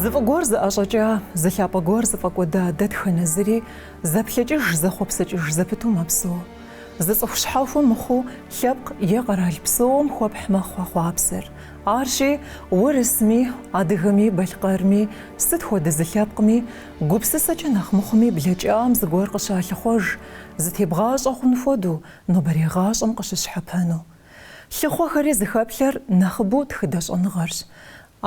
Зы фӏы гуэр зыӏэщӏэкӏа, зы лъапӏэ гуэр зыфӏэкӏуэда дэтхэнэ зыри зэплъэкӏыж зэхъуэпсэкӏыж зэпыту мэпсэу. Зы цӏыху щхьэхуэ мыхъуу лъэпкъ е къэрал псоуэм хуэпхь мэхъу а хъуапсэр. Арщи, урысми, адыгэми, балъкъэрми, сыт хуэдэ зы лъэпкъми, Гупсысэкӏэ нэхъ мыхъуми блэкӏам зыгуэр къыщалъыхъуэж, зытебгъащӏэ хъун хуэдэу, нобэрей гъащӏэм къыщыщхьэпэну. Лъыхъуэхэри зыхэплъэр нэхъыбэу тхыдэ щӏэныгъэрщ.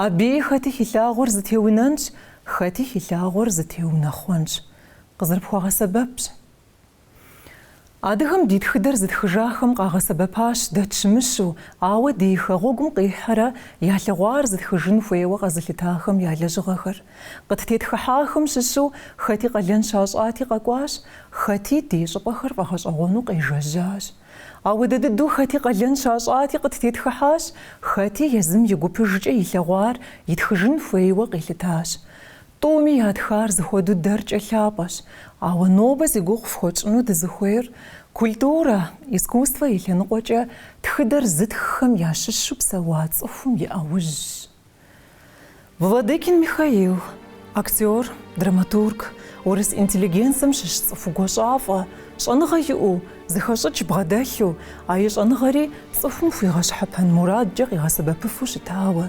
Абыи хэти хилъагъуэр зытеунэнщ, хэти хилъагъуэр зытеунэхъуэнщ. Къызэрыпхуэгъэсэбэпщ. Адыгэм ди тхыдэр зытхыжахэм къагъэсэбэпащ дэ тщымыщу, ауэ ди хэгъуэгум къихьэрэ ялъэгъуар зытхыжын хуейуэ къэзылъытахэм я лэжьыгъэхэр. Къыттетхыхьахэм щыщу хэти къалэн щащӏати къэкӏуащ, хэти ди щӏыпӏэхэр фӏэгъэщӏэгъуэну къежэжьащ. Ауэдэ дыдэу хэти къалэн щащӏати къыттетхыхьащ, хэти езым и гупыжкӏэ илъэгъуар итхыжын хуейуэ къилъытащ. Тӏуми ятхар зыхуэдэу дэркӏэ лъапӏэщ, ауэ нобэ зи гугъу фхуэтщӏыну дызыхуейр культурэ, искусствэ и лъэныкъуэкӏэ тхыдэр зытххэм ящыщу псэуа цӏыхум и ӏэужьщ. Владыкин Михаил, актер, драматург, урыс интеллигенцэм щыщ цӏыху гуащӏафӏэ, щӏэныгъэ иӏэу, зыхэщӏыкӏ бгъэдэлъу, а и щӏэныгъэри цӏыхум хуигъэщхьэпэн мурадкӏэ къигъэсэбэпыфу щытауэ,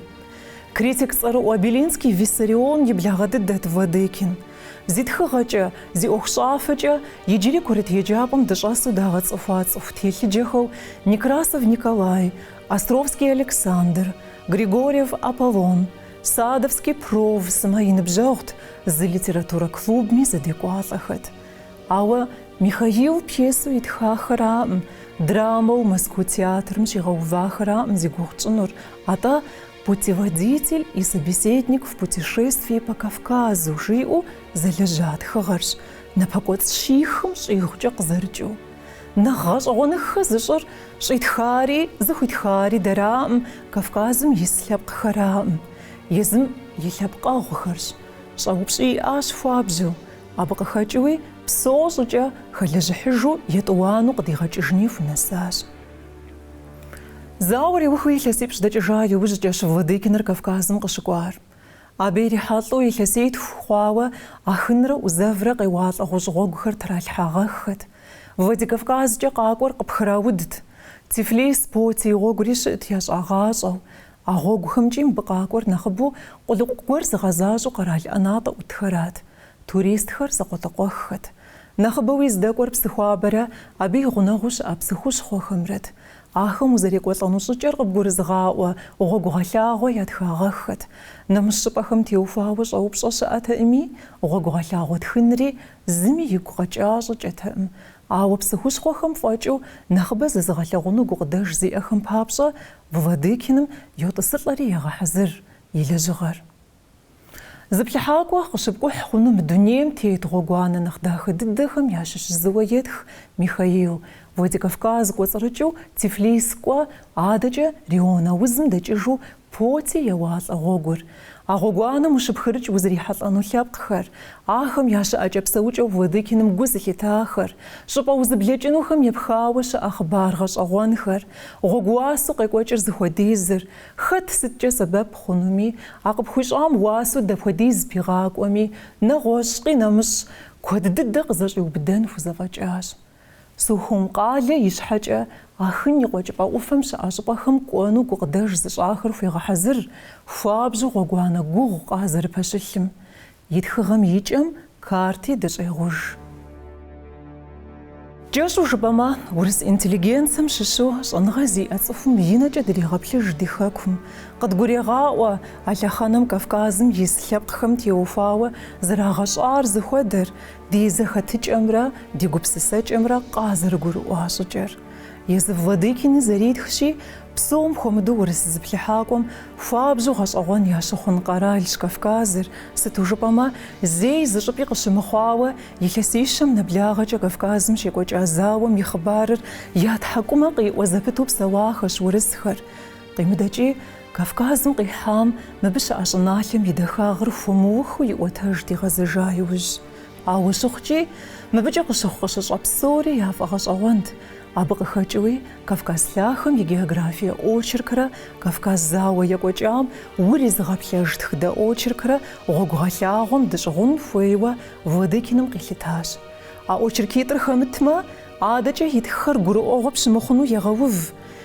Критик цӏэрыӏуэ Белинский Виссарион и благъэ дыдэт Владыкин. Зи тхыгъэкӏэ, зи ӏуэхущӏафэкӏэ иджыри курыт еджапӏэм дыщӏэсу дагъэцӏыхуа цӏыху телъыджэхэу Некрасов Николай, Островский Александр, Григорьев Аполлон, Садовский Пров сымэ и ныбжьэгъут, зы литературэ клубми зэдекӏуалӏэхэт. Ауэ Михаил пьесэу итхахэраӏым, драмэу Мэзкуу театрым щигъэувахэраӏым зи гугъу тщӏынур, Атӏэ Путеводитель и собеседник в путешествии по Кавказу жиӏэу зэлэжьа тхыгъэрщ, напэкӏуэцӏ щихым щӏигъукӏэ къызэрыкӏыу. Нэхъ гъэщӏэгъуэныххэ зыщӏыр щӏитхари зыхуитхари дэраӏым, Кавказым ис лъэпкъхэраӏым, езым и лъэпкъэгъухэрщ. Щӏэупщӏи иӏащ хуабжьу, абы къыхэкӏыуи псэу щӏыкӏэ хэлэжьыхьыжу етӏуанэу къыдигъэкӏыжыни хунэсащ. Зауэр иухыу илъэсипщӏ дэкӏыжа иужькӏэщ Владыкиныр Кавказым къыщыкӏуар. Абы ирихьэлӏэу илъэситху хъуауэ Ахынрэ ӏузэврэ къеуалӏэ гъущӏ гъуэгухэр тралъхьагъэххэт. Владикавказкӏэ къакӏуэр къыпхраудт. Тифлис, Поти гъуэгури щыӏэт ящӏагъащӏэу. А гъуэгухэмкӏи мыбы къакӏуэр нэхъыбэу къулыкъу гуэр зыгъэзащӏэу къэрал ӏэнатӏэ ӏутхэрат, туристхэр закъуэтӏакъуэххэт. Нэхъыбэуи здэкӏуэр Псыхуабэрэ абы и гъунэгъуу щыӏэ псы хущхъуэхэмрэт. Ахэм узэрекӏуэлӏэну щӏыкӏэр къыбгурызыгъаӏуэ гъуэгугъэлъагъуэ ятхагъэххэт. Нэмыщӏ щӏыпӏэхэм теухуауэ щӏэупщӏэ щыӏэтэкъыми, гъуэгугъэлъагъуэ тхынри зыми игу къэкӏа щӏыкӏэтэкъым. Ауэ псы хущхъуэхэм фӏэкӏыу нэхъыбэ зэзыгъэлъэгъуну гукъыдэж зиӏэхэм папщӏэ Владыкиным йотӏысылӏэри егъэхьэзыр и лэжьыгъэр. Зыплъыхьакӏуэ къыщыпкӏухь хъуну мы дунейм тет гъуэгуанэ нэхъ дахэ дыдэхэм ящыщ зыуэ етх Михаил, Владикавказ кӏуэцӏрыкӏыу Тифлис кӏуэ, адэкӏэ Рион аузым дэкӏыжу Поти еуалӏэ гъуэгур, А гъуэгуанэм ущыпхырыкӏ узрихьэлӏэну лъэпкъхэр, ахэм я щыӏэкӏэ-псэукӏэу Владыкиным гу зылъитахэр, щӏыпӏэ узыблэкӏынухэм епхауэ щыӏэ хъыбар гъэщӏэгъуэнхэр, гъуэгу уасэу къекӏуэкӏыр зыхуэдизыр, хэт сыткӏэ сэбэп хъунуми, а къыпхуищӏам уасэу дапхуэдиз пигъакӏуэми, нэгъуэщӏ къинэмыщӏ, куэд дыдэ къызэщӏиубыдэн хузэфӏэкӏащ. Сухум къалэ ищхьэкӏэ Ахын и Къуэкӏыпӏэ ӏуфэм щыӏэ щӏыпӏэхэм кӏуэну гукъыдэж зыщӏахэр хуегъэхьэзыр, хуабжьу гъуэгуанэ гугъу къазэрыпэщылъым. И тхыгъэм и кӏэм карти дыщӏегъуж. Кӏэщӏу жыпӏэмэ, урыс интеллигенцэм щыщу щӏэныгъэ зиӏэ цӏыхум и нэкӏэ дригъэплъыж ди хэкум. Къыдгурегъаӏуэ а лъэхъэнэм Кавказым ис лъэпкъхэм теухуауэ зрагъэщӏар зыхуэдэр, Ди зэхэтыкӏэмрэ ди гупсысэкӏэмрэ къазэрыгурыӏуа щӏыкӏэр. Езы Владыкиным зэритхщи, псом хуэмыдэу урыс зыплъыхьакӏуэм хуабжьу гъэщӏэгъуэн ящыхъун къэралщ Кавказыр, сыту жыпӏэмэ, зэи зы щӏыпӏи къыщымыхъуауэ илъэсищэм нэблагъэкӏэ Кавказым щекӏуэкӏа зауэм и хъыбарыр я тхьэкӏумэ къиӏуэ зэпыту псэуахэщ урысхэр. Къимыдэкӏи, Кавказым къихьам мыбы щыӏэ щӏыналъэм и дахагъыр хуэмыухыу иӏуэтэжт игъэзэжа иужь. Ауэ щыхъукӏи, мыбыкӏэ къыщыхъу-къыщыщӏэ псори яфӏэгъэщӏэгъуэнт, абы къыхэкӏыуи Кавказ лъахэм и географие очеркрэ Кавказ зауэ екӏуэкӏам уризыгъэплъэж тхыдэ очеркрэ гъуэгугъэлъагъуэм дыщӏыгъун хуейуэ Владыкиным къилъытащ. А очеркитӏыр хэмытмэ, адэкӏэ итххэр гурыӏуэгъуэ пщымыхъуну егъэув.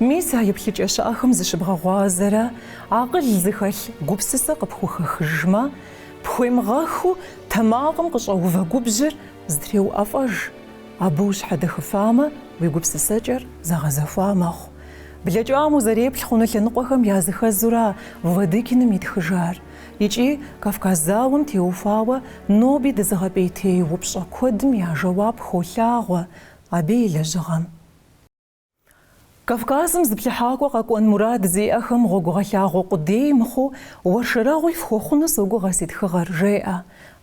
Мис а еплъыкӏэ щыӏэхэм зыщыбгъэгъуазэрэ акъыл зыхэлъ гупсысэ къыпхухэхыжмэ, пхуемыгъэхыу тэмакъым къыщӏэувэ губжьыр зэтреуӏэфӏэж, абы ущхьэдэхыфамэ, уи гупсысэкӏэр зэгъэзэхуа мэхъу. Блэкӏам узэреплъ хъуну лъэныкъуэхэм языхэзура Владыкиным итхыжар икӏи Кавказ зауэм теухуауэ ноби дызыгъэпӏейтей упщӏэ куэдым я жэуап холъагъуэ абы и лэжьыгъэм. Кавказым зыплъыхьакӏуэ къэкӏуэн мурад зиӏэхэм гъуэгугъэлъагъуэ къудей мыхъуу уэршэрэгъуи фхуэхъуну согугъэ си тхыгъэр, жеӏэ.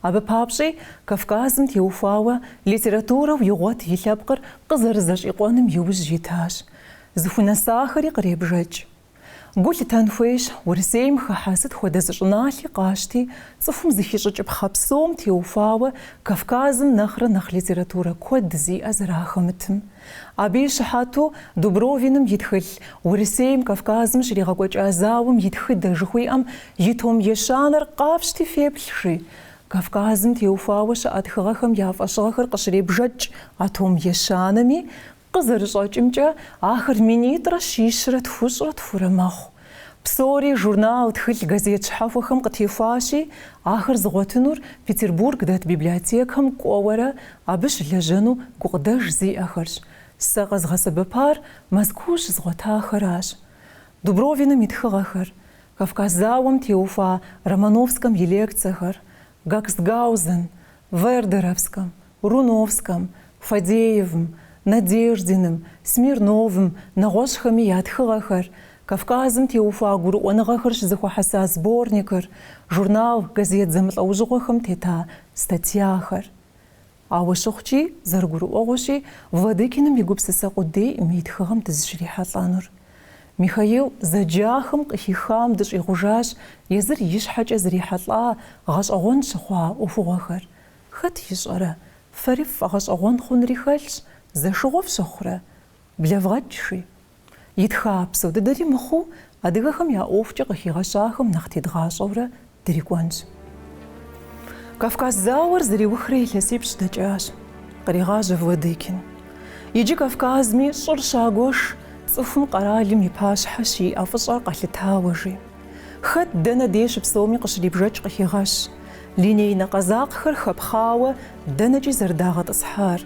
Абы папщӏи, Кавказым теухуауэ литературэу игъуэт и лъэпкъыр къызэрызэщӏикъуэным иужь итащ. Зыхунэсахэри къребжэкӏ. Гу лъытэн хуейщ, Урысейм хыхьэ сыт хуэдэ зы щӏыналъи къащти, цӏыхум зыхищӏыкӏыпхъэ псом теухуауэ Кавказым нэхърэ нэхъ литературэ куэд зиӏэ зэрахэмытым. Абы и щыхьэту Дубровиным и тхылъ Урысейм Кавказым щригъэкӏуэкӏа зауэм и тхыдэ жыхуиӏэм и том ещанэр къафщти феплъ, жи, Кавказым теухуауэ щыӏэ тхыгъэхэм я фӏэщыгъэхэр къыщребжэкӏ а том ещанэми, Къызэрыщӏэкӏымкӏэ, ахэр минитӏрэ щищрэ тхущӏрэ тхурэ мэхъу. Псори журнал, тхылъ, газет щхьэхуэхэм къытехуащи, ахэр зыгъуэтынур Петербург дэт библиотекэм кӏуэуэрэ абы щылэжьэну гукъыдэж зиӏэхэрщ. Сэ къэзгъэсэбэпар Мэзкуу щызгъуэтахэращ. Дубровиным и тхыгъэхэр, Кавказ зауэм теухуа Романовскэм и лекцэхэр, Гакстгаузен, Вердеровскэм, Руновскэм, Фадеевым, Надеждиным, Смирновым, нэгъуэщӏхэми я тхыгъэхэр, Кавказым теухуа гурыӏуэныгъэхэр щызэхуэхьэса сборникыр, журнал, газет зэмылӏэужьыгъуэхэм тета статьяхэр. Ауэ щыхъукӏи, зэрыгурыӏуэгъуэщи, Владыкиным и гупсысэ къудейкъым и тхыгъэм дызыщрихьэлӏэнур. Михаил зэджахэм къыхихам дыщӏигъужащ езыр и щхьэкӏэ зрихьэлӏа гъэщӏэгъуэн щыхъуа ӏуэхугъуэхэр, Хэт ищӏэрэ, фэри ффӏэгъэщӏэгъуэн хъунри хэлъщ, зэшыгъуэ фщыхъурэ? Блэвгъэкӏ, жи. Итха псо дыдэри мыхъуу, адыгэхэм я ӏуэхукӏэ къыхигъэщахэм нэхъ тедгъащӏэурэ дрикӏуэнщ. Кавказ зауэр зэриухрэ илъэсипщӏ дэкӏащ. Къригъажьэ Владыкин. Иджы Кавказми щӏыр щагуэш, цӏыхум къэралым и пащхьэ щиӏэ фӏыщӏэр къэлъытауэ, жи. Хэт дэнэ дей щыпсэуми къыщрибжэкӏ къыхегъэщ. Линейнэ къэзакъхэр хэпхъауэ дэнэкӏи зэрыдагъэтӏысхьар.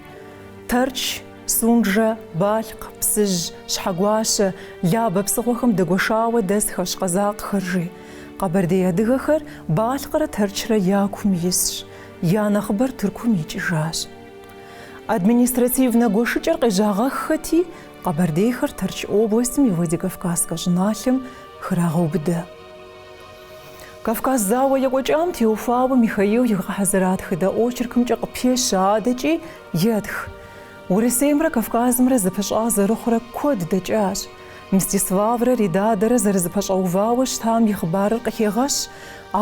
Тэрч, Сунджэ, Балъкъ, Псыжь, Щхьэгуащэ, Лабэ псыгъуэхэм дэгуэшауэ дэсхэщ къэзакъхэр, жи. Къэбэрдей адыгэхэр Балъкърэ Тэрчрэ я кум исщ, я нэхъыбэр Тыркум икӏыжащ. Административнэ гуэшыкӏэр къежьагъэххэти, Къэбэрдейхэр Тэрч областым и Владикавказскэ щӏыналъэм храгъэубыдэ. Кавказ зауэ екӏуэкӏам теухуауэ Михаил игъэхьэзыра тхыдэ очеркымкӏэ къыпещэ адэкӏи етх. Урысеймрэ Кавказымрэ зэпыщӏа зэрыхъурэ куэд дэкӏащ. Мстиславрэ Ридадэрэ зэрызэпэщӏэувауэ щытам и хъыбарыр къыхегъэщ,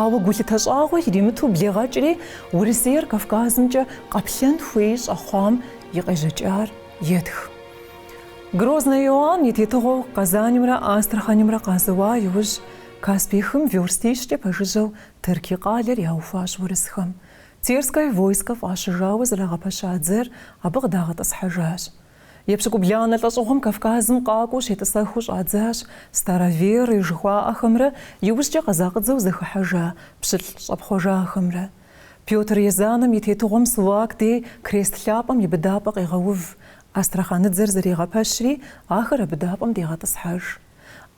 ауэ гулъытэ щӏагъуэ иримыту блегъэкӏри Урысейр Кавказымкӏэ къэплъэн хуей щӏэхъуам и къежьэкӏар етх. Грозный Иоанн и тетыгъуэу Къэзанымрэ Астраханымрэ къазэуа иужь, Каспий хым верстищкӏэ пэжыжьэу Терки къалэр яухуащ урысхэм. Терское войскэ фӏащыжауэ зэрагъэпэща дзэр абы къыдагъэтӏысхьэжащ. Епщыкӏубланэ лӏэщӏыгъуэм Кавказым къакӏуэу щетӏысэхыу щӏадзащ староверы жыхуаӏэхэмрэ иужькӏэ къэзакъыдзэу зэхыхьэжа пщылӏ щӏэпхъуэжахэмрэ. Пётр Езанэм и тетыгъуэм Сулак дей крест лъапӏэм и быдапӏэ къегъэув, Астраханыдзэр зэригъэпэщри, ахэр а быдапӏэм дегъэтӏысхьэж.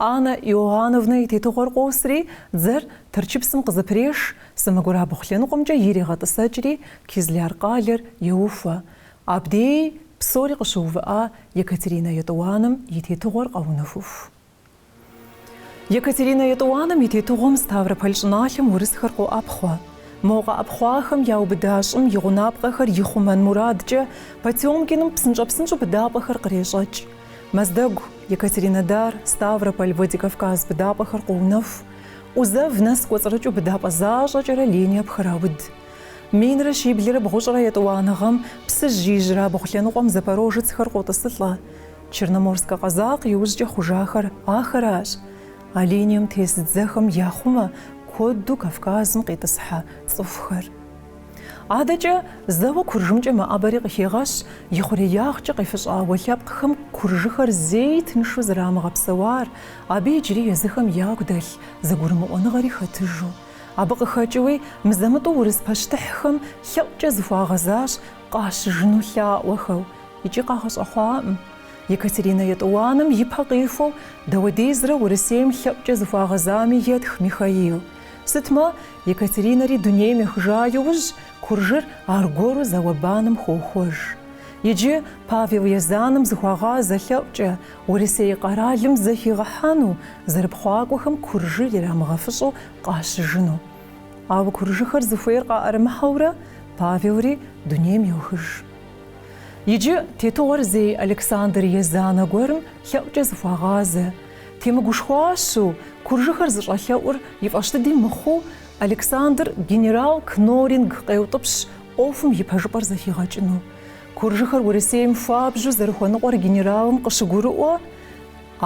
Анна Иоанновнэ и тетыгъуэр къосри, дзэр Тэрчыпсым къызэпрешыж, сэмэгурабгъу лъэныкъуэмкӏэ иригъэтӏысэкӏри, Кизляр къалэр еухуэ. Абдей псори къыщыувыӏа Екатеринэ Етӏуанэм и тетыгъуэр къэунэхуху. Екатеринэ Етӏуанэм и тетыгъуэм Ставрополь щӏыналъэм урысхэр къоӏэпхъуэ. Мо къэӏэпхъуахэм яубыда щӏым и гъунапкъэхэр ихъумэн мурадкӏэ Потёмкиным псынщӏэ-псынщӏэу быдапӏэхэр кърещӏэкӏ. Мэздэгу, Екатеринодар, Ставрополь, Владикавказ быдапӏэхэр къоунэху. ӏузэв нэс кӏуэцӏрыкӏыу быдапӏэ защӏэкӏэрэ линия пхырауд. Минрэ щиблрэ бгъущӏрэ етӏуанэ гъэм Псыжь ижьырабгъу лъэныкъуэм запорожецхэр къотӏысылӏэ. Черноморскэ къэзакъ иужькӏэ хъужахэр ахэращ, а линием тес дзэхэм яхъумэ куэду Кавказым къитӏысхьэ цӏыхухэр. Адэкӏэ зэуэ Куржымкӏэ мэӏэбэри къыхегъэщ ихъуреягъкӏэ къефыщӏауэ лъэпкъхэм куржыхэр зэи тыншу зэрамыгъэпсэуар, абы иджыри езыхэм ягу дэлъ зэгурымыӏуэныгъэри хэтыжу. Абы къыхэкӏыуи мызэ-мытӏэу урыс пащтыхьхэм лъэӏукӏэ зыхуагъэзащ Къащыжыну лъаӏуэхэу икӏи къагъэщӏэхъуакъым. Екатеринэ Етӏуанэм ипэ къихуэу дауэдизрэ Урысейм лъэӏукӏэ зыхуагъэзами етх Михаил. Сытмэ, Екатеринэри дунейм ехыжа иужь, куржыр аргуэру зауэ-баным хохуэж. Иджы Павел Езанэм зыхуагъазэ лъэӏукӏэ, Урысей къэралым зэхигъэхьэну, зэрыпхъуакӏуэхэм куржыр ирамыгъэфыщӏу къащыжыну. Ауэ куржыхэр зыхуейр къаӏэрымыхьэурэ, Павелри дунейм йохыж. Иджы тетыгъуэр зей Александр Езанэ гуэрым лъэӏукӏэ зыхуагъазэ. Темыгушхуащу, куржыхэр зыщӏэлъэӏур и фӏэщ дыди мыхъуу, Александр генерал Кноринг къеутӏыпщ ӏуэхум и пэжыпӏэр зэхигъэкӏыну. Куржыхэр Урысейм хуабжьу зэрыхуэныкъуэр генералым къыщыгурыӏуэ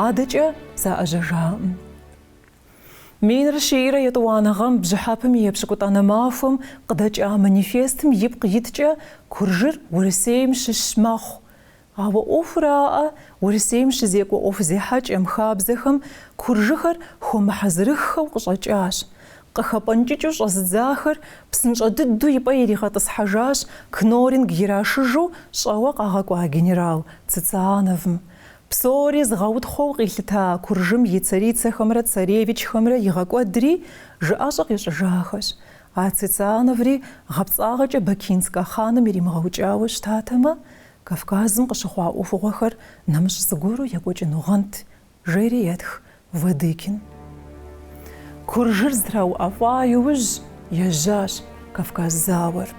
адэкӏэ заӏэжьэжакъым. Минрэ щийрэ етӏуанэ гъэм бжьыхьэпэм и епщыкӏутӏанэ махуэм къыдэкӏа манифестым ипкъ иткӏэ Куржыр Урысейм щыщ мэхъу. Ауэ ӏуэхуракъэ, Урысейм щызекӏуэ ӏуэху зехьэкӏэм, хабзэхэм куржыхэр хуэмыхьэзырыххэу къыщӏэкӏащ. Къыхэпӏэнкӏыкӏыу щӏэзыдзахэр псынщӏэ дыдэу и пӏэ иригъэтӏысхьэжащ Кноринг ирашыжу щӏэуэ къагъэкӏуа генерал Цициановым. Псори зыгъэутхъуэу къилъыта Куржым и царицэхэмрэ царевичхэмрэ игъэкӏуэдри жыӏэщӏэ къищӏыжахэщ. А Цициановри гъэпцӏагъэкӏэ Бакинскэ хъаным иримыгъэукӏауэ щытатэмэ, Кавказым къыщыхъуа ӏуэхугъуэхэр нэмыщӏ зыгуэру екӏуэкӏынугъэнт, жери етх Владыкин. Куржыр зэтрауӏэфӏа иужь, ежьащ Кавказ зауэр.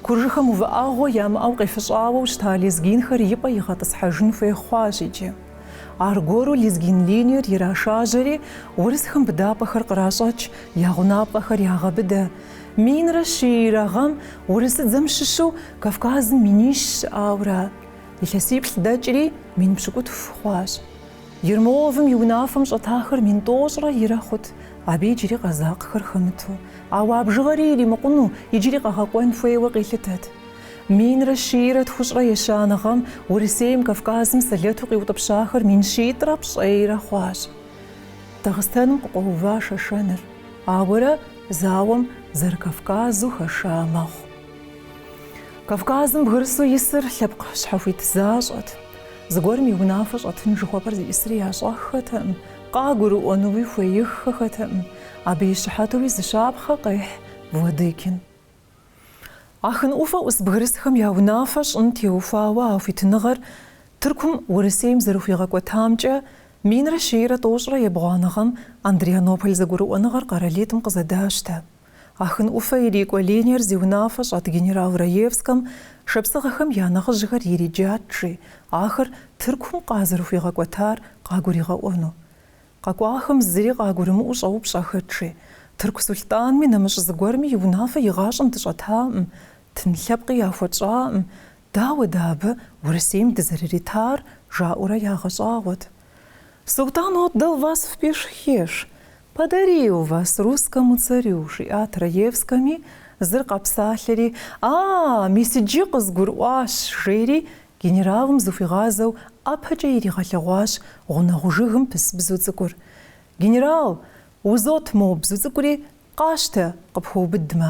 Куржыхэм увыӏэгъуэ ямыӏэу къефыщӏауэу щыта лезгинхэр и пӏэ игъэтӏысхьэжын хуей хъуащ иджы. Аргуэру лезгин линиер ирашажьэри, урысхэм быдапӏэхэр къращӏэкӏ, я гъунапкъэхэр ягъэбыдэ. Минрэ щийрэ гъэм урысыдзэм щыщу Кавказым минищ щыӏауэ ара? Илъэсиплӏ дэкӏри, мин пщыкӏутху хъуащ. Ермоловым и унафэм щӏэтахэр мин тӏощӏрэ ирэ хъут, абы иджыри къэзакъхэр хэмыту, ауэ а бжыгъэри иримыкъуну, иджыри къэгъэкӏуэн хуейуэ къилъытэт. Минрэ щийрэ тхущӏрэ ещанэ гъэм Урысейм Кавказым сэлэту къиутӏыпщахэр мин щитӏрэ пщӏейрэ хъуащ. Дагъыстэным къыкъуэува Шэшэныр, ауэрэ зауэм зэры-Кавказу хэша мэхъу. Кавказым бгырысу исыр лъэпкъ щхьэхуит защӏэт. Зыгуэрым и унафэ щӏэтын жыхуэпӏэр зиӏысри ящӏэххэтэкъым, къагурыӏуэнуи хуеиххэхэтэкъым, абы и щыхьэтуи зы щапхъэ къехь Владыкин. Ахын ӏуфэ ӏус бгырысхэм я унафэ щӏын теухуауэ а хуитыныгъэр Тыркум Урысейм зэрыхуигъэкӏуэтамкӏэ минрэ щийрэ тӏощӏрэ ебгъуанэ гъэм Андрианополь зэгурыӏуэныгъэр къэралитӏым къызэдащтэ. Ахын ӏуфэ ирикӏуэ линиер зи унафэ щӏэт генерал Раевскэм шапсыгъэхэм я нэхъыжьхэр ириджат жи, ахэр Тыркум къазэрыхуигъэкӏуэтар къагуригъэӏуэну. Къэкӏуахэм зыри къагурымыӏуу щӏэупщӏэхэт жи, Тырку сулътӏанми нэмыщӏ зыгуэрми и унафэ игъащӏэм дыщӏэтакъым, тын лъэпкъи яхуэтщӏакъым, Дауэ дэ абы Урысейм дызэрыритар? жаӏэурэ ягъэщӏагъуэт. Султан отдал вас в пешхеш, подарил вас русскому царю, жиӏат Раевскэми, зыр къэпсалъэри, А, мис иджы къызгурыӏуащ, жери, генералым зыхуигъазэу ӏэпэкӏэ иригъэлъэгъуащ гъунэгъу жыгым пыс бзу цӏыкӏур. Генерал, узот мо бзу цӏыкӏури къащтэ, къыпхуэубыдмэ.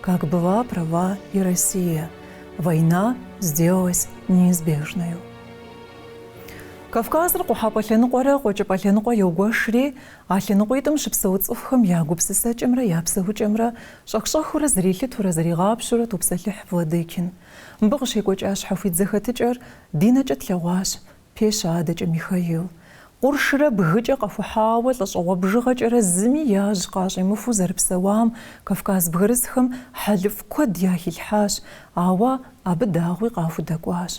Как была права и Россия, война сделалась неизбежной. Кавказыр къухьэпӏэ лъэныкъуэрэ къуэкӏыпӏэ лъэныкъуэ йогуэшри, а лъэныкъуитӏым щыпсэу цӏыхухэм я гупсысэкӏэмрэ я псэукӏэмрэ щӏэх-щӏэхыурэ зэрилъытурэ зэригъапщэурэ топсэлъыхь Владыкин. Мыбы къыщекӏуэкӏа щхьэхуит зэхэтыкӏэр ди нэкӏэ тлъэгъуащ, Пещэ адэкӏэ Михаил, къуршрэ бгыкӏэ къэхухьауэ, лӏэщӏыгъуэ бжыгъэкӏэрэ зыми яжь къащӏимыхуу зэрыпсэуам Кавказ бгырысхэм хьэлыфӏ куэд яхилъхьащ, ауэ абы дагъуи къахудэкӏуащ.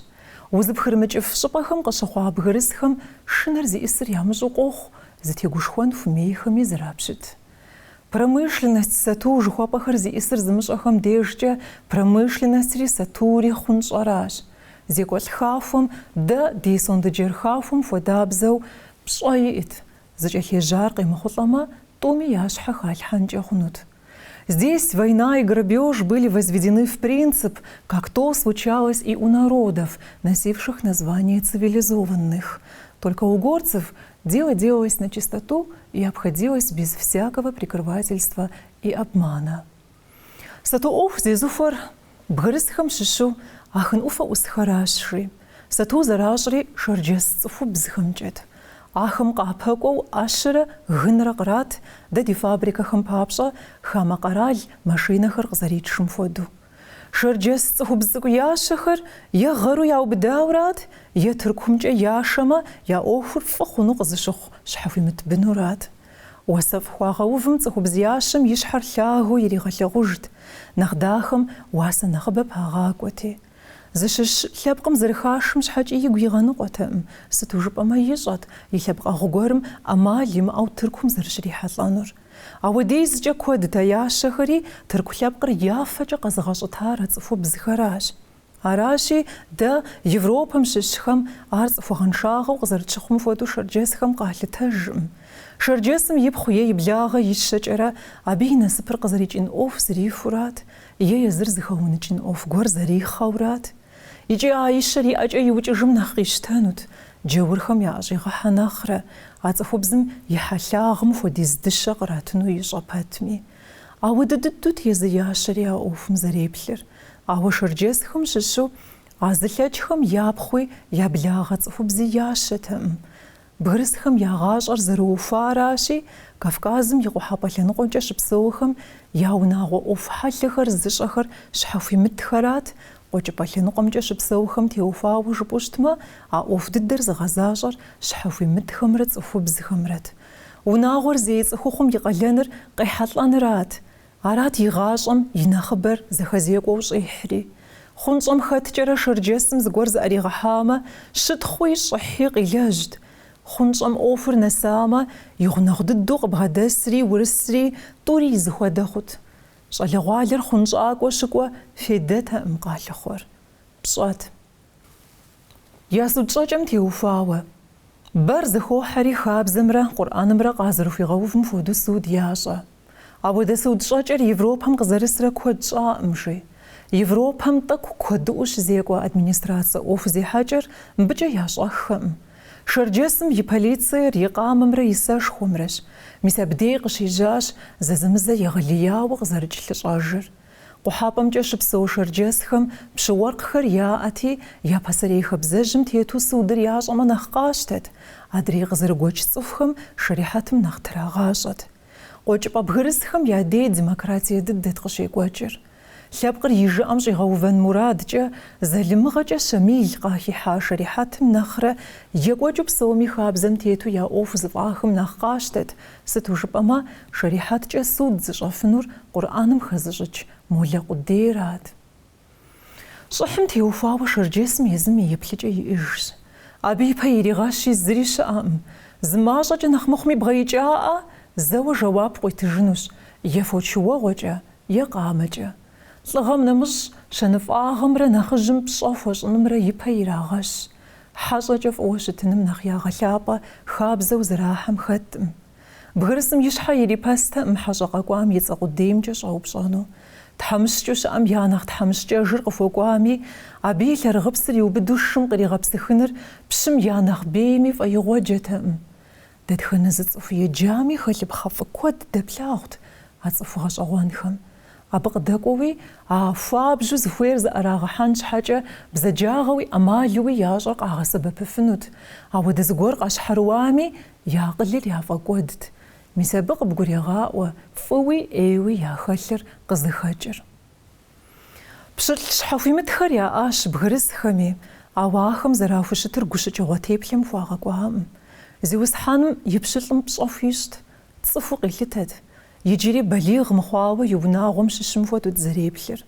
Узыпхырымыкӏыф щӏыпӏэхэм къыщыхъуа бгырысхэм шынэр зиӏысыр ямыщӏэу къохъу, зытегушхуэн хуэмейхэми зэрапщыт. Промышленность сату жыхуэпӏэхэр зиӏысыр зымыщӏэхэм дежкӏэ промышленностри сатури хъунщӏэращ. Зекӏуэлӏ хахуэм дэ ди сондэджэр хахуэм хуэдабзэу пщӏэ иӏэт, зыкӏэлъежьар къемыхъулӏэмэ, тӏуми я щхьэ халъхьэнкӏэ хъунут. Здесь война и грабеж были возведены в принцип, как то случалось и у народов, носивших название цивилизованных. Только у горцев Дело делалось начистоту и обходилось без всякого прикрывательства и обмана. Сату ӏуэху зезыхуэр бгырысхэм щыщу Ахын ӏуфэ ӏусхэращ, жи. Сату зэращӏри шэрджэс цӏыхубзхэмкӏэт. Ахэм къапэкӏуэу ӏэщэрэ гынрэ кърат, дэ ди фабрикэхэм папщӏэ хамэ къэрал машинэхэр къызэритшым хуэдэу. Шэрджэс цӏыхубз цӏыкӏу ящэхэр е гъэру яубыдауэрат, е Тыркумкӏэ яшэмэ, я ӏуэхур фӏы хъуну къызыщыхъу щхьэхуимыт бынурат. Уасэфӏ хуагъэувым цӏыхубз ящэм и щхьэр лъагэу иригъэлъагъужт, нэхъ дахэм уасэ нэхъыбэ пагъакӏуэти. Зыщыщ лъэпкъым зэрыхашым щхьэкӏи игу игъэныкъуэтэкъым, сыту жыпӏэмэ ищӏэт и лъэпкъэгъу гуэрым ӏэмал имыӏэу Тыркум зэрыщрихьэлӏэнур. Ауэдизкӏэ куэдт а ящэхэри тырку лъэпкъыр я фэкӏэ къэзыгъэщӏытар а цӏыхубзхэращ. Аращи, дэ, Европэм щыщхэм, ар цӏыхугъэншагъэу къызэрытщыхъум хуэдэу шэрджэсхэм къалъытэжкъым. Шэрджэсым ипхъу е и благъэ ищэкӏэрэ абы и насыпыр къызэрикӏын ӏуэху зрихурат, е езыр зыхэуныкӏын ӏуэху гуэр зэрихъэурат. Икӏи а ищэр и ӏэкӏэ иукӏыжым нэхъ къищтэнут, джаурхэм яӏэщӏигъэхьэ нэхърэ, а цӏыхубзым и хьэлъагъым хуэдиз дыщэ къратыну ищӏэ пэтми. Ауэдэ дыдут езы ящэри а ӏуэхум зэреплъыр. Ауэ шэрджэсхэм щыщу а зылъэкӏхэм япхъуи, я благъэ цӏыхубзи ящэтэкъым. Бгырысхэм я гъащӏэр зэрыухуаращи, Кавказым и къухьэпӏэ лъэныкъуэмкӏэ щыпсэухэм я унагъуэ ӏуэху хьэлъэхэр зыщӏэхэр щхьэхуимытхэрат, къуэкӏыпӏэ лъэныкъуэмкӏэ щыпсэухэм теухуауэ жыпӏэу щытмэ, а ӏуэху дыдэр зыгъэзащӏэр щхьэхуимытхэмрэ цӏыхубзхэмрэт. Унагъуэр зей цӏыхухъум и къалэныр къехьэлӏэнырат. Арат и гъащӏэм и нэхъыбэр зэхэзекӏуэу щӏихьри. Хъунщӏэм хэткӏэрэ шэрджэсым зыгуэр зыӏэригъэхьамэ, щытхъуи щӏыхьи къилэжьт. Хъунщӏэм ӏуэхур нэсамэ, и гъунэгъу дыдэу къыбгъэдэсри урысри тӏури и зыхуэдэ хъут. Щӏалэгъуалэр хъунщӏакӏуэ щыкӏуэ фейдэтэкъым къалъыхъуэр. Пщӏэт. Я суд щӏэкӏэм теухуауэ. Бэр зыхохьэри хабзэмрэ Къурӏэнымрэ къазэрыхуигъэувым хуэдэу суд ящӏэ. Ауэдэ суд щӏэкӏэр Европэм къызэрысрэ куэд щӏаӏым, жи. Европэм тӏэкӏу куэдыӏуэу щызекӏуэ администрацэ ӏуэху зехьэкӏэр мыбыкӏэ ящӏэххэкъым. Шэрджэсым и полициер и къамэмрэ и сэшхуэмрэщ. Мис абдей къыщежьащ зэзэмызэ егъэлеяуэ къызэрыкӏ лъыщӏэжыр. Къухьэпӏэмкӏэ щыпсэу шэрджэсхэм пщы-уэркъхэр яӏэти, я пасэрей хабзэжьым тету судыр ящӏэмэ нэхъ къащтэт, адрей къызэрыгуэкӏ цӏыхухэм шэрихьэтым нэхъ трагъащӏэт. Къуэкӏыпӏэ бгырысхэм я дей демократие дыдэт къыщекӏуэкӏыр. Лъэпкъыр и жыӏэм щӏигъэувэн мурадкӏэ, залымыгъэкӏэ Щамил къахихьа шэрихьэтым нэхърэ екӏуэкӏыу псоми хабзэм тету я ӏуэху зыфӏахым нэхъ къащтэт Сыту жыпӏэмэ, шэрихьэткӏэ суд зыщӏэфынур Къурӏэным хэзыщӏыкӏ молэ къудейрат. Щӏыхьым теухуауэ шэрджэсым езым и еплъыкӏэ иӏыжщ. Абы ипэ иригъэщи зыри щыӏэкъым. Зы мащӏэкӏэ нэхъ мыхъуми бгъэикӏаӏэ, зэуэ жэуап къуитыжынущ, е фочыуэгъуэкӏэ, е къамэкӏэ. Лӏыгъэм нэмыщӏ, щэныфӏагъэмрэ нэхъыжьым пщӏэ хуэщӏынымрэ ипэ ирагъэщ. Хьэщӏэкӏэ фӏыуэ щытыным нэхъ ягъэлъапӏэ хабзэу зэрахьэм хэткъым. Бгырысым и щхьэ ирипэстэкъым хьэщӏэ къэкӏуам и цӏэ къудеймкӏэ щӏэупщӏэну. Тхьэмыщкӏэу щыӏэм я нэхъ тхьэмыщкӏэжыр къыхуэкӏуами, абы и лъэрыгъыпсыр иубыду шым къригъэпсыхыныр пщым я нэхъ бейми фӏэигъуэджэтэкъым. Дэтхэнэ зы цӏыху еджами, хэлъыпхъэ фӏы куэд дэплъагъут а цӏыху гъэщӏэгъуэнхэм. Абы къыдэкӏуэуи, а хуабжьу зыхуейр зыӏэрагъэхьэн щхьэкӏэ бзаджагъэуи ӏэмалуи ящӏэр къагъэсэбэпыфынут. Ауэдэ зыгуэр къащхьэрыуами, я акъылыр яфӏэкӏуэдт. Мис абы къыбгурегъаӏуэ фӏыуи ӏейуи яхэлъыр къызыхэкӏыр. Пщылӏ щхьэхуимытхэр яӏащ бгырысхэми, ауэ ахэм зэрахущытыр гущыкӏыгъуэ теплъэм хуагъэкӏуакъым. Зиусхьэным и пщылӏым пщӏэ хуищӏт, цӏыхуу къилъытэт, иджыри балигъ мыхъуауэ и унагъуэм щыщым хуэдэут зэреплъыр.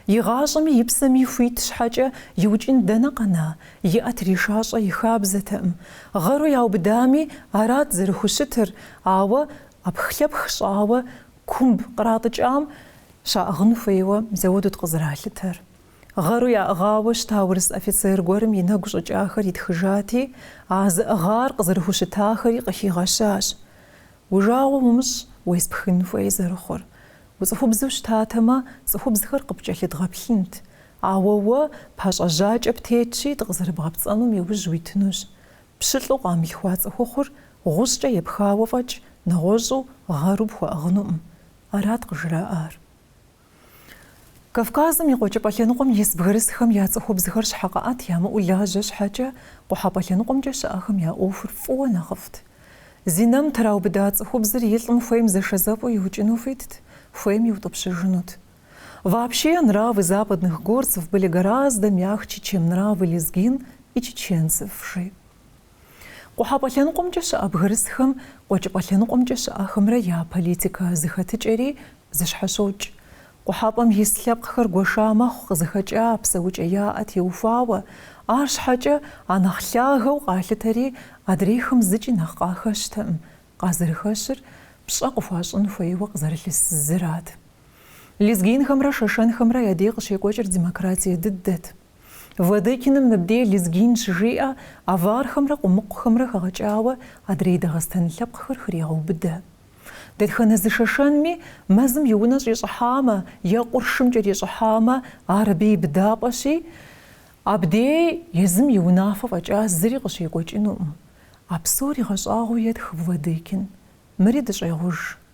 И гъащӏэми и псэми хуит щхьэкӏэ иукӏын дэнэ къэна, и ӏэ тришащӏэ и хабзэтэкъым. Гъэру яубыдами, арат зэрыхущытыр, ауэ ӏэпхлъэпх щӏауэ Кумб къратӏыкӏам щаӏыгъын хуейуэ зауэдут къызэралъытэр. Гъэру яӏыгъауэ щыта урыс офицер гуэрым и нэгу щӏыкӏахэр итхыжати, а зыӏыгъар къызэрыхущытахэри къыхигъэщащ. Уи жагъуэ умыщӏ уеспхын хуей зэрыхъур. Уцӏыхубзу щытатэмэ, цӏыхубзхэр къыпкӏэлъыдгъэплъынт, ауэ уэ пащӏэжьакӏэ птетщи дыкъызэрыбгъэпцӏэнум и ужь уитынущ. Пщылӏу къамылъхуа цӏыхухъур гъущӏкӏэ епхауэ фӏэкӏ нэгъуэщӏу гъэру пхуэӏыгъынуӏым, арат къыжраӏар. Кавказым и Къуэкӏыпӏэ лъэныкъуэм ис бгырысхэм я цӏыхубзхэр щхьэкъыӏэт ямыӏэу лажьэ щхьэкӏэ, къухьэпӏэ лъэныкъуэмкӏэ щыӏэхэм я ӏуэхур фӏыуэ нэхъыфӏт. Зинэм траубыда цӏыхубзыр и лӏым хуейм зэшэзэпӏэу иукӏыну хуитт, хуейм иутӏыпщыжынут. Вообще, нравы западных горцев были гораздо мягче, чем нравы лезгин и чеченцев, жи. Къухьэпӏэ лъэныкъуэмкӏэ щыӏэ бгырысхэм къуэкӏыпӏэ лъэныкъуэмкӏэ щыӏэхэмрэ я политикэ зэхэтыкӏэри зэщхьэщокӏ. Къухьэпӏэм ис лъэпкъхэр гуэша мэхъу къызыхэкӏа псэукӏэ яӏэ теухуауэ, арщхьэкӏэ а нэхъ лъагэу къалъытэри адрейхэм зыкӏи нэхъ къахэщтэӏым, къазэрыхэщыр пщӏэ къыхуащӏын хуейуэ къызэрылъыс зырат. Лезгинхэмрэ шэшэнхэмрэ я дей къыщекӏуэкӏыр демократие дыдэт. Владыкиным мыбдей лезгин щыжиӏэ авархэмрэ къумыкъухэмрэ хэгъэкӏауэ адрей Дагъыстэн лъэпкъхэр хрегъэубыдэ. Дэтхэнэ зы шэшэнми мэзым и унэ щӏищӏыхьамэ е къуршым кӏэрищӏыхьамэ ар абы и быдапӏэщи, абдей езым и унафэ фӏэкӏа зыри къыщекӏуэкӏынуӏым. А псор игъэщӏагъуэу етх Владыкин. Мыри дыщӏегъуж.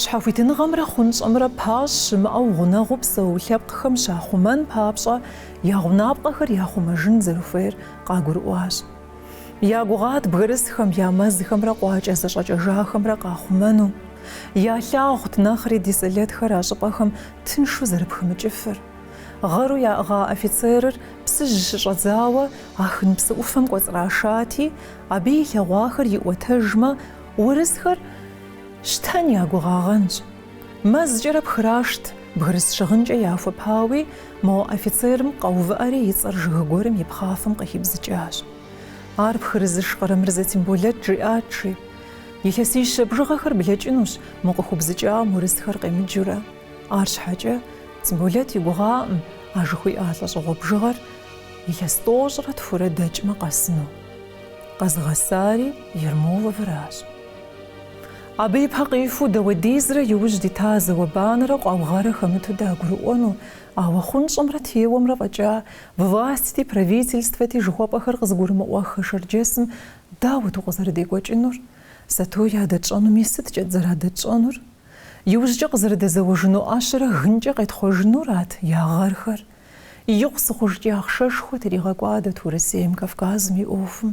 Щхьэхуитыныгъэмрэ хъунщӏэмрэ пащӏ щымыӏэу гъунэгъуу псэу лъэпкъхэм щахъумэн папщӏэ я гъунапкъэхэр яхъумэжын зэрыхуейр къагурыӏуащ. Я гугъат бгырысхэм я мэзхэмрэ къуакӏэ зэщӏэкӏэжахэмрэ къахъумэну. Ялъагъут нэхъри ди сэлэтхэр а щӏыпӏэхэм тыншу зэрыпхымыкӏыфыр. Гъэру яӏыгъа офицерыр Псыжь щыщӏэдзауэ Ахын псы ӏуфэм кӏуэцӏрашати, абы илъэгъуахэр иӏуэтэжмэ, урысхэр, Щтэн я гугъагъэнщ. Мэзкӏэрэ пхрашт, бгырыс щыгъынкӏэ яхуэпауи, мо офицерым къэувыӏэри и цӏэр жыг гуэрым и пхъафэм къыхибзыкӏащ. Ар пхырызыш Къарэмырзэ Темболэт жиӏат жи. Илъэсищэ бжыгъэхэр блэкӏынущ мо къыхубзыкӏам урысхэр къемыджурэ. Арщхьэкӏэ Темболэт и гугъаӏым а жыхуиӏа лӏэщӏыгъуэ бжыгъэр илъэс тӏощӏрэ тхурэ дэкӏмэ къэсыну. Къэзыгъэсари Ермоловыращ. Абы ипэ къихуэу дауэдизрэ иужь дита зауэ-банэрэ къуаугъэрэ хэмыту дагурыӏуэну, ауэ хъунщӏымрэ теуэмрэ фӏэкӏа властьти, правительствэти жыхуэпӏэхэр къызыгурымыӏуэххэ шэрджэсым дауэт укъызэрыдекӏуэкӏынур? Сату ядэтщӏэнуми сыткӏэт зэрадэтщӏэнур? Иужькӏэ къызэрыдэзэуэжыну ӏэщэрэ гынкӏэ къетхъуэжынурат я гъэрхэр. Икъусыкъужкӏи ахъшэшхуэ тригъэкӏуадэт Урысейм, Кавказым и ӏуэхум.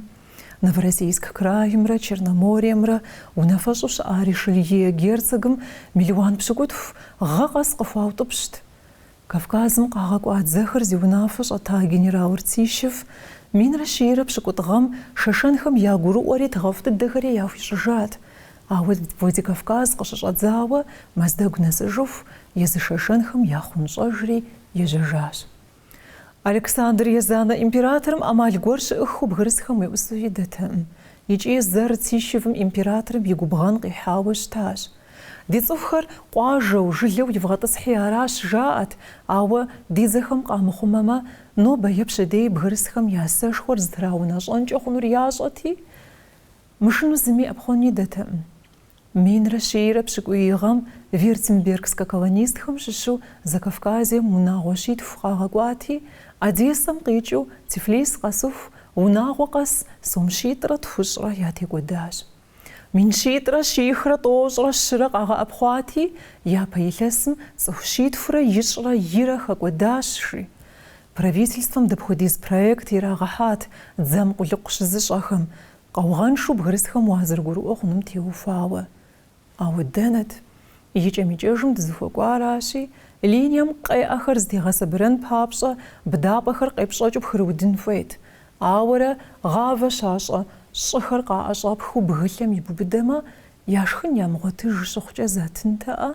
Новороссийск краймрэ Черномориемрэ унафэщӏу щыӏа Ришелье герцогым мелуан пщыкӏутху гъэ къэс къыхуаутӏыпщт. Кавказым къагъэкӏуа дзэхэр зи унафэ щӏэта генерал Ртищев минрэ щийрэ пщыкӏутӏ гъэм шэшэнхэм ягурыӏуэри тыгъэфӏ дыдэхэри яхуищӏыжат, ауэ Владикавказ къыщыщӏэдзауэ Мэздэгу нэсыжыху езы шэшэнхэм яхъунщӏэжри ежьэжащ. Александр Езанэ императорым ӏэмал гуэр щыӏыххэу бгырысхэм уеӏусэу идэтэкъым икӏи зэ Ртищевым императорым и губгъэн къихьауэ щытащ. Ди цӏыхухэр къуажэу, жылэу ивгъэтӏысхьи аращ, жаӏэт, ауэ ди дзэхэм къамыхъумэмэ, нобэ е пщэдей бгырысхэм я сэшхуэр зытраунэщӏэнкӏэ хъунур ящӏэти, мышынэу зыми ӏэпхъуэн идэтэкъым. Минрэ щийрэ пщыкӏуий гъэм вюртембергскэ колонистхэм щыщу Закавказьем унагъуэ щитху къагъэкӏуати, Одессэм къикӏыу Тифлис къэсыху, унагъуэ къэс сом щитӏрэ тхущӏрэ ятекӏуэдащ. Мин щитӏрэ щихрэ тӏощӏрэ щырэ къагъэӏэпхъуати, япэ илъэсым цӏыху щитхурэ ищӏрэ ирэ хэкӏуэдащ, жи. Правительствэм дапхуэдиз проект ирагъэхьат дзэм къулыкъу щызыщӏэхэм, Къаугъэншэу бгырысхэм уазэрыгурыӏуэ хъунум теухуауэ. Ауэ дэнэт? Икӏэм-икӏэжым дызыхуэкӏуаращи, линием къеӏэхэр зэтегъэсабырэн папщӏэ, быдапӏэхэр къепщӏэкӏыу пхырыудын хуейт. Ауэрэ, гъавэ щащӏэ щӏыхэр къаӏэщӏэпхыу бгылъэм ибубыдэмэ, я шхын ямыгъуэтыж щыхъукӏэ затынтэӏэ?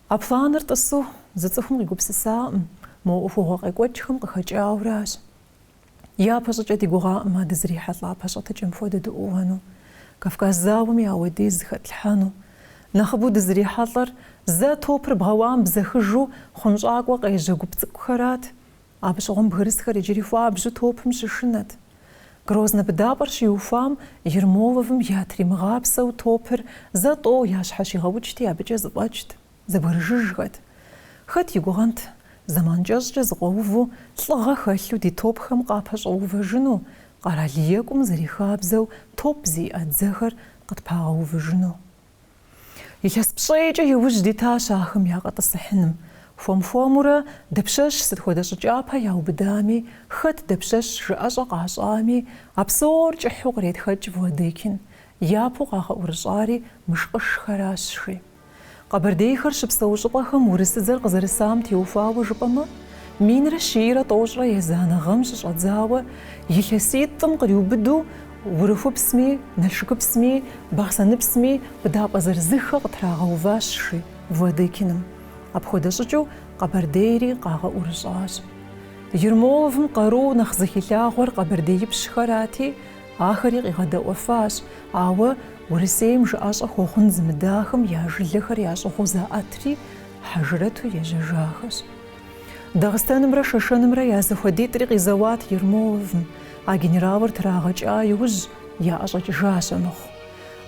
А планыр тӏысу зы цӏыхум къигупсысакъым, мо ӏуэхугъуэ къекӏуэкӏхэм къыхэкӏауэращ. Япэ щӏыкӏэ ди гугъакъым а дызрихьэлӏа пэщӏэтыкӏэм хуэдэ дыӏууэну, Кавказ зауэми ауэдиз зыхэтлъхьэну. Нэхъыбэу дызрихьэлӏэр, зэ топыр бгъэуам бзэхыжу хъунщӏакӏуэ къежьэ гуп цӏыкӏухэрат. Абы щыгъуэм бгырысхэр иджыри хуабжьу топым щышынэт. Грознэ быдапӏэр щиухуам Ермоловым ятримыгъапсэу топыр зэ тӏэу ящхьэщигъэукӏти, абыкӏэ зэфӏэкӏт. Зэбгрыжыжхэт! Хэт и гугъэнт, зэман кӏэщӏкӏэ зыкъуэуву, лӏыгъэ хэлъу ди топхэм къапэщӏэувэжыну, къэрал екӏум зэрихабзэу топ зиӏэ дзэхэр къытпагъэувыжыну? Илъэс пщӏейкӏэ иужь дитащ ахэм якъэтӏысыхьыным. Хуэм-хуэмурэ, дапщэщ сыт хуэдэ щӏы кӏапэ яубыдами, хэт дапщэщ жыӏэщӏэ къащӏами, а псор кӏыхьу къретхэкӏ Владыкин, япэу къагъэӏурыщӏари мышкъышхэращ, жи. Къэбэрдейхэр щыпсэу щӏыпӏэхэм урысыдзэр къызэрысам теухуауэ жыпӏэмэ, минрэ щийрэ тӏощӏрэ езанэ гъэм щыщӏэдзауэ илъэситӏым къриубыду Урыхупсми, Налшыкыпсми, Бахъсэныпсми быдапӏэ зырызыххэ къытрагъэуващ, жи Владыкиным. Апхуэдэ щӏыкӏыу Къэбэрдейри къагъэӏурыщӏащ. Ермоловым къару нэхъ зыхилъагъуэр къэбэрдеипщхэрати, Ахэри къигъэдэӏуэфащ, ауэ Урысейм жыӏэщӏэ хуэхъун зымыдахэм я жылэхэр ящӏыгъуу заӏэтри, хьэжрэту ежьэжахэщ. Дагъыстэнымрэ Шэшэнымрэ я зэхуэдитӏри къизэуат Ермоловым, а генералыр трагъэкӏа иужь, яӏэщӏэкӏыжащ амыхъу.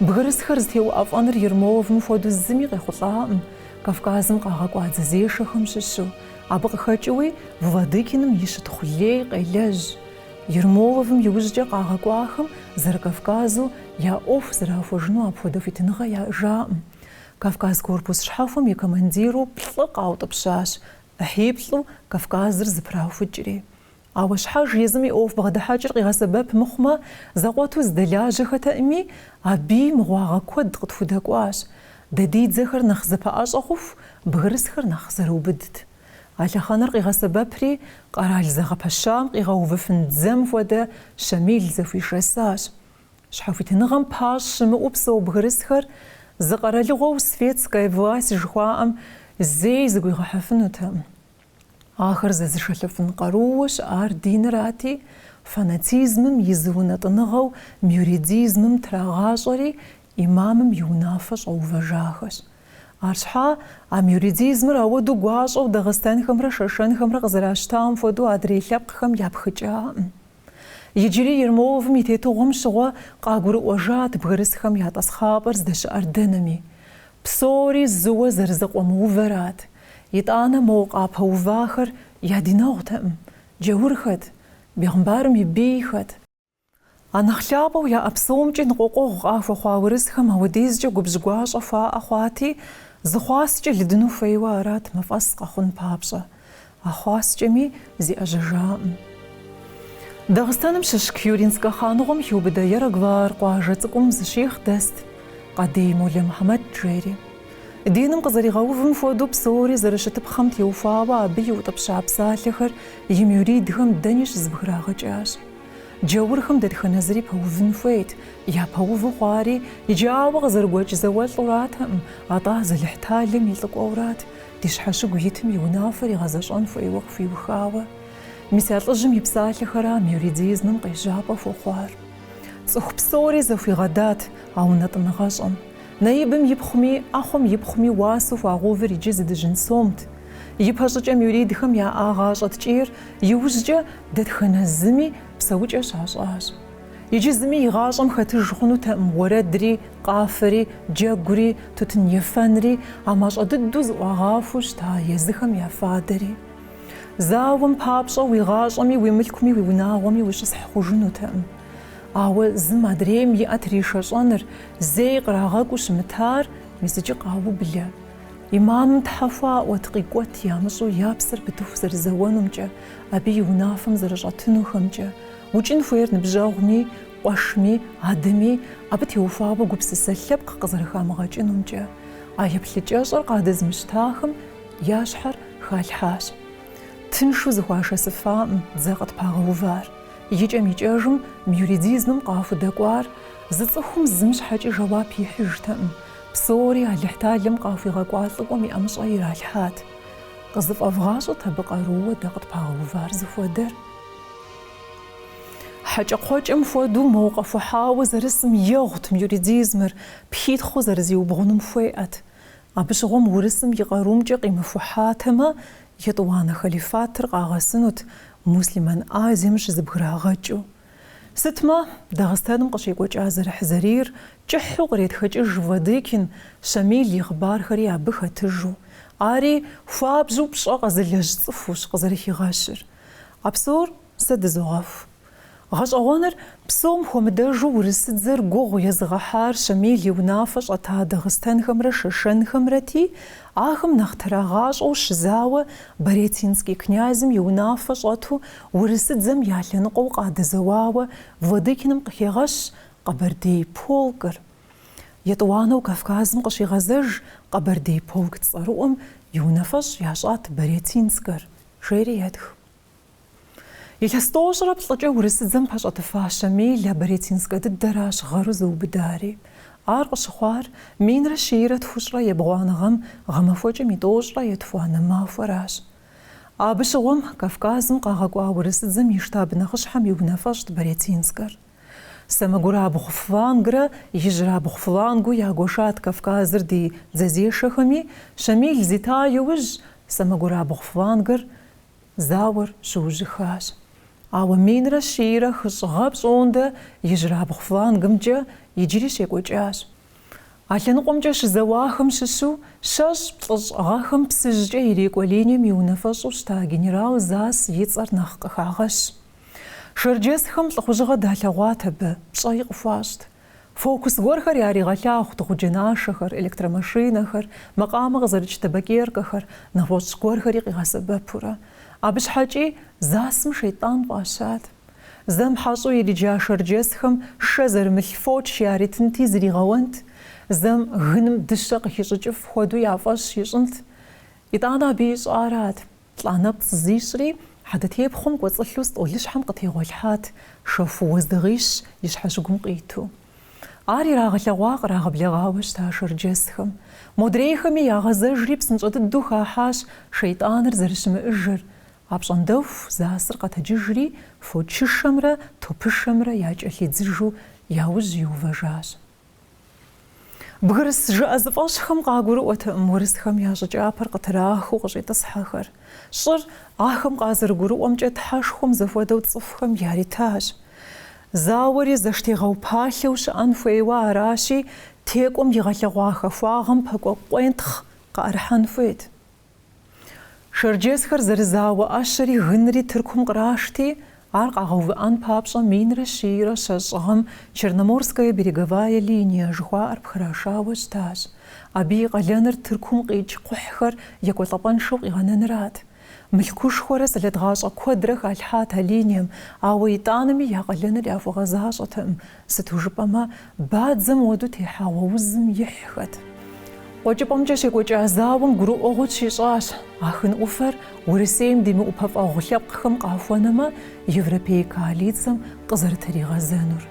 Бгырысхэр зытеуӏэфӏэныр Ермоловым хуэдэу зыми къехъулӏаӏым, Кавказым къагъэкӏуа дзэзешэхэм щыщу, абы къыхэкӏыуи Владыкиным и щытхъу лей къелэжь, Ермоловым иужькӏэ къагъэкӏуахэм Зэрыкавказу я ӏуэху зэрахуэжыну апхуэдэ хуитыныгъэ яӏэжаӏым. Кавказ корпус щхьэхуэм и командиру плӏы къаутӏыпщащ, ӏыхьиплӏу Кавказыр зыпраухыкӏри. Ауэ щхьэж езым и ӏуэху бгъэдыхьэкӏыр къигъэсэбэп мыхъумэ, зэкъуэту зыдэлажьэхэтэӏыми, абыи мыгъуагъэ куэд къытхудэкӏуащ. Дэ ди дзэхэр нэхъ зэпэӏэщӏэ хъуху, бгырысхэр нэхъ зэрыубыдт. А лъэхъэнэр къигъэсэбэпри, къэрал зэгъэпэщам къигъэувыфын дзэм хуэдэ Щамил зэхуишэсащ. Щхьэхуитыныгъэм пащӏ щымыӏэу псэу бгырысхэр зы къэралыгъуэу светская власть жыхуаӏэм зэи зыгуигъэхьэфынутэкъым. Ахэр зэзышэлӏэфын къарууэ щыӏар динырати, фанатизмым и зы унэтӏыныгъэу мюридизмым трагъащӏэри, Имамым и унафэ щӏэувэжахэщ. Арщхьа, а мюридизмыр ауэдэу гуащӏэу дагъыстэнхэмрэ шэшэнхэмрэ къызэращтам хуэдэу адрей лъэпкъхэм япхыкӏакъым. Иджыри Ермоловым и тетыгъуэм щыгъуэ къагурыӏуэжат бгырысхэм я тӏасхъапӏэр здэщыӏэр дэнэми. Псори зыуэ зэрызэкъуэмыувэрат. Итӏанэ мо къапэувахэр я динэгъутэкъым. Джаурхэт. Бегъымбарым и бийхэт. А нэхъ лъапӏэу яӏэ псомкӏи ныкъуэкъуэгъу къахуэхъуа урысхэм ауэдизкӏэ губжь гуащӏэ хуаӏэ хъуати, зы хъуаскӏэ лыдыну хуейуэ арат мафӏэс къэхъун папщӏэ. А хъуаскӏэми зиӏэжьэжакъым. Дагъыстэным щыщ Кюринскэ хъаныгъуэм хиубыдэ Яраглар къуажэ цӏыкӏум зы щихъ дэст, Къадий Молэ Мухьэмэд жери. Диным къызэригъэувым хуэдэу псори зэрыщытыпхъэм теухуауэ абы иутӏыпща псалъэхэр и мюридхэм дэни щызыбграгъэкӏащ. Джаурхэм дэтхэнэ зыри пэувын хуейт, япэуву хъуари иджы ауэ къызэрыгуэкӏ зауэлӏуратэкъым, атӏэ езы Алыхьталэм и лӏыкӏуэурат ди щхьэщыгу итым и унафэр игъэзэщӏэн хуейуэ къыхуиухауэ. Мис а лӏыжьым и псалъэхэра мюридизмым къежьапӏэ хуэхъуар. Цӏыху псори зэхуигъэдат а унэтӏыныгъэщӏэм. Наибым ипхъуми, ӏэхъуэм ипхъуми уасэу хуагъэувыр иджы зы дыжьын сомт. Ипэщӏыкӏэ мюридхэм яӏа гъащӏэ ткӏийр иужькӏэ Дэтхэнэ зыми псэукӏэ щащӏащ. Иджы зыми и гъащӏэм хэтыж хъунутэкъым уэрэдри, къафэри, джэгури, тутын ефэнри, а мащӏэ дыдэу зыӏуагъахуэу щыта езыхэм я фадэри. Зауэм папщӏэ уи гъащӏэми, уи мылъкуми, уи унагъуэми ущысхь хъужынутэкъым. Ауэ зым адрейм и ӏэ тришэщӏэныр, зэи кърагъэкӏуу щымытар мис иджы къаублэ. Имамым тхьэ хуаӏуэт, къикӏуэт ямыщӏу я псэр пытыху зэрызэуэнумкӏэ, Абы и унафэм зэрыщӏэтынухэмкӏэ, укӏын хуейр ныбжьэгъуми, къуэшми, адэми, абы теухуауэ гупсысэ лъэпкъ къызэрыхамыгъэкӏынумкӏэ, а еплъыкӏэщӏэр къадэзмыщтахэм я щхьэр халъхьащ. Тыншу зэхуашэсыфаӏым дзэ къытпагъэувар, икӏэм-икӏэжым мюридизмым къахудэкӏуар зы цӏыхум зым щхьэкӏи жэуап ихьыжтэкъым, псори Алыхьталэм къахуигъэкӏуа лӏыкӏуэм и ӏэмыщӏэ иралъхьат. Къызыфӏэвгъащӏэт абы къарууэ дэ къытпагъэувар зыхуэдэр. Хьэкӏэкхъуэкӏэм хуэдэу моуэ къэхухьауэ зэрысым егъут мюридизмыр, пхитхъыу зэрызиубгъунум хуеӏэт. Абы щыгъуэм урысым и къарумкӏэ къимыхухьатэмэ, Етӏуанэ халифатыр къагъэсынут, Муслъымэн Азием щызыбграгъэкӏыу. Сытмэ, Дагъыстэным къыщекӏуэкӏа зэрыхьзэрийр кӏыхьу къретхэкӏыж Владыкин Щамил и хъыбархэри абы хэтыжу. Ари хуабжьу пщӏэ къэзылэжь цӏыхущ къызэрыхигъэщыр. А псор сэ дызогъэху. Гъэщӏэгъуэныр псом хуэмыдэжу урысыдзэр гугъу езыгъэхьар Щамил и унафэ щӏэта Дагъыстэнхэмрэ Шэшэнхэмрэти, ахэм нэхъ трагъащӏэу щызауэ Барятинский князьым и унафэ щӏэту Урысыдзэм я лъэныкъуэу къадэзэуауэ Владыкиным къыхегъэщ Къэбэрдей полкыр. Етӏуанэу Кавказым къыщигъэзэж Къэбэрдей полк цӏэрыӏуэм и унафэщӏ ящӏат Барятинскэр, жери етх. Илъэс тӏощӏрэ плӏыкӏэ Урысыдзэм пэщӏэтыфа Щамил а Барятинскэ дыдэращ гъэру зыубыдари. Ар къыщыхъуар минрэ щийрэ тхущӏрэ ебгъуанэ гъэм гъэмахуэкӏэм и тӏощӏрэ етхуанэ махуэращ. Абы щыгъуэм Кавказым къагъэкӏуа урысыдзэм и штаб нэхъыщхьэм и унафэщӏт Барятинскэр. Сэмэгурабгъу флангрэ ижьрабгъу флангу ягуэшат Кавказыр ди дзэзешэхэми, Щамил зита иужь сэмэгурабгъу флангыр зауэр щыужьыхащ. Ауэ минрэ щийрэ хыщӏ гъэ пщӏондэ ижьрабгъу флангымкӏэ иджыри щекӏуэкӏащ. А лъэныкъуэмкӏэ щызэуахэм щыщу щэщӏ, плӏыщӏ гъэхэм Псыжькӏэ ирикӏуэ линием и унафэщӏу щыта генерал Засс и цӏэр нэхъ къыхагъэщ. Шэрджэсхэм лӏыхъужьыгъэ далъэгъуат абы, пщӏэи къыхуащӏт. Фокус гуэрхэр яригъэлъагъут гъуджэ нашэхэр, электромашинэхэр, макъамэ къызэрыкӏ табакеркэхэр, нэгъуэщӏ гуэрхэри къигъэсэбэпурэ. Абы щхьэкӏи Зассым шейтӏан фӏащат. Зэм хьэщӏэу ириджа шэрджэсхэм шэ зэрымылъ фоч яритынти зригъэуэнт, зэм гыным дыщэ къыхищӏыкӏыф хуэдэу я фӏэщ ищӏынт. Итӏанэ абы ищӏарат, лӏа нэпцӏ зищӏри, хьэдэтепхъуэм кӏуэцӏылъу стӏолыщхьэм къытегъуэлъхьат шэху уэздыгъищ и щхьэщыгум къиту. Ар ирагъэлъэгъуа кърагъэблэгъауэ щыта шэрджэсхэм. Модрейхэми ягъэзэжри псынщӏэ дыдэу хахьащ шейтӏаныр зэрыщымыӏэжыр, Апщӏондэху Зассыр къэтэджыжри, фочышэмрэ топышэмрэ якӏэлъидзыжу я ужь иувэжащ. Бгырыс жыӏэзыфӏэщӏхэм къагурыӏуэтэкъым урысхэм я щӏы кӏапэр къытрахыу къыщӏитӏысхьэхэр. Щӏыр, ахэм къазэрыгурыӏуэмкӏэ, тхьэшхуэм зэхуэдэу цӏыхухэм яритащ. Зауэри зэштегъэупалъэу щыӏэн хуейуэ аращи, текӏуэм игъэлъэгъуа хахуагъэм пэкӏуэ къуентхъ къыӏэрыхьэн хуейт. Шэрджэсхэр зэрызауэ ӏэщэри гынри Тыркум кърашти, ар къагъэувыӏэн папщӏэ минрэ щийрэ щэщӏ гъэм Черноморская береговая линия жыхуаӏэр пхырашауэ щытащ. Абы и къалэныр Тыркум къикӏ кхъухьхэр екӏуэлӏэпӏэншэу къигъэнэнырат. Мылъкушхуэрэ сэлэт гъащӏэ куэдрэ халъхьат а линием, ауэ итӏанэми я къалэныр яхуэгъэзащӏэтэкъым, Сыту жыпӏэмэ, бадзэм хуэдэу техьэгъуэ узым ихьхэт. Къуэкӏыпӏэмкӏэ щекӏуэкӏа зауэм гурыӏуэгъуэ тщищӏащ, Ахын ӏуфэр Урысейм димыӏупэфӏэгъу лъэпкъхэм къахуэнэмэ, европей коалицэм къызэрытригъэзэнур.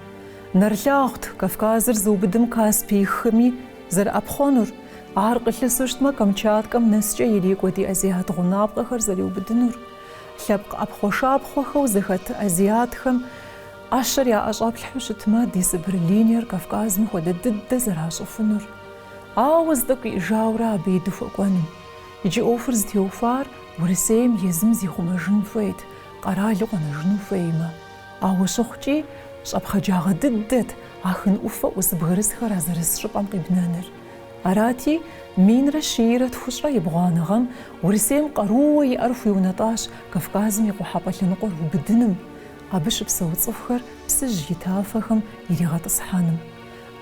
Нэрылъагъут Кавказыр зыубыдым Каспий хыми зэрыӏэпхъуэнур, ар къылъысу щытмэ, Камчаткэм нэскӏэ ирикӏуэ ди азиат гъунапкъэхэр зэриубыдынур. Лъэпкъ ӏэпхъуэшапхъуэхэу зэхэт азиатхэм ӏэщэр яӏэщӏэплъхьэу щытмэ, ди Сыбыр линиер Кавказым хуэдэ дыдэ зэращӏыфынур, ауэ зы тӏэкӏу иӏэжауэрэ абы и дыхуэкӏуэным. Иджы ӏуэхур зытеухуар Урысейм езым зихъумэжын хуейт, къэралу къэнэжыну хуеймэ. Ауэ щыхъукӏи, щӏэпхъаджагъэ дыдэт Ахын ӏуфэ ӏус бгырысхэр а зырыс щӏыпӏэм къибнэныр. Арати, минрэ щийрэ тхущӏрэ ебгъуанэ гъэм Урысейм къарууэ иӏэр хуиунэтӏащ Кавказым и къухьэпӏэ лъэныкъуэр убыдыным, абы щыпсэу цӏыхухэр Псыжь и тафэхэм иригъэтӏысхьэным.